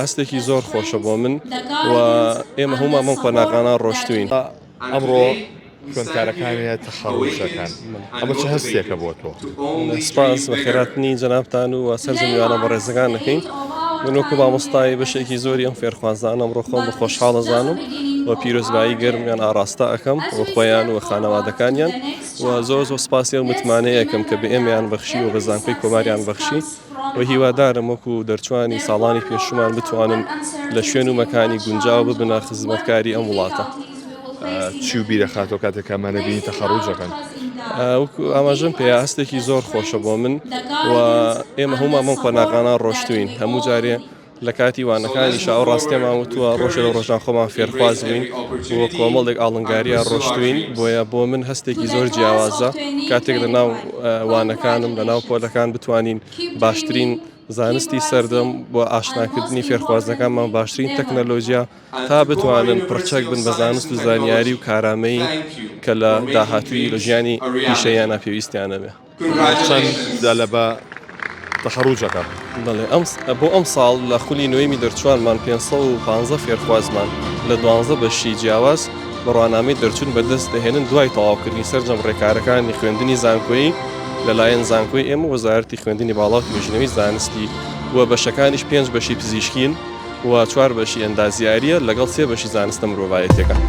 ئاستێکی زۆر خۆشە بۆ من و ئێمە هەموومان بەم قۆناغانە ڕۆشتووین. ئەمڕۆ خوێندکارەکانیە تەخەڕوج دەکەن، ئەمە چ هەستێکە بۆ تۆ؟ سپاس بە خێراتنی جەنابتان و سەرجەم میوانە بەڕێزەکان دەکەین. من وەکو مامۆستای بەشێکی زۆری ئەم فێرخوازانە ئەمڕۆ خۆم بە خۆشحاڵ ئەزانم و پیرۆزبایی گەرمیان ئاڕاستە ئەکەم بۆ خۆیان و خانەوادەکانیان و زۆر زۆر سپاسی ئەو متمانەیەکەم کە بە ئێمەیان بەخشی و بە زانکۆی کۆماریان بەخشی. و هیوادارم وەکو دەرچوانی ساڵانی پێشوومان بتوانن لە شوێن و مەکانی گونجاو ببنە خزمەتکاری ئەم وڵاتە. چی و بیردەخاتەوە کاتێک ئەمانە بینی تەخەڕووج دەکەن؟ وەکو ئاماژەم پێیا هەستێکی زۆر خۆشە بۆ من و ئێمە هەموومان بەم قۆناغانە ڕۆشتووین هەموو جارێ لە کاتی وانەکانیشا ئەو ڕاستیەمان وتووە ڕۆژێ لە ڕۆژان خۆمان فێرخواز بووین بۆ کۆمەڵێک ئاڵنگاریە ڕۆشتوین بۆیە بۆ من هەستێکی زۆر جیاوازە کاتێک لە ناو وانەکانم لە ناو پۆلەکان بتوانین باشترین زانستی سەردەم بۆ ئاشناکردنی فێرخوازەکانمان باشترین تەکنەلۆژیا تا بتوانن پڕچەک بن بە زانست و زانیاری و کارامەیی کە لە داهاتووی لە ژیانی پیشەیانە پێویستیانە بێ. چەند دا لە بە تەخەڕوجەکە؟ بەڵێ ئەم بۆ ئەم ساڵ لە خولی نوێمی دەرچوانمان پێنج سەد و پانزە فێرخوازمان لە دوانزە بەشی جیاواز بڕوانامەی دەرچوون بەدەست دەهێنن دوای تەواوکردنی سەرجەم ڕێکارەکانی خوێندنی زانکۆیی لەلایەن زانکۆی ئێمە وەزارەتی خوێندنی باڵا و توێژینەوەی زانستی و بەشەکانیش پێنج بەشی پزیشکین و چوار بەشی ئەندازیارییە لەگەڵ سێ بەشی زانستە مرۆڤایەتیەکان.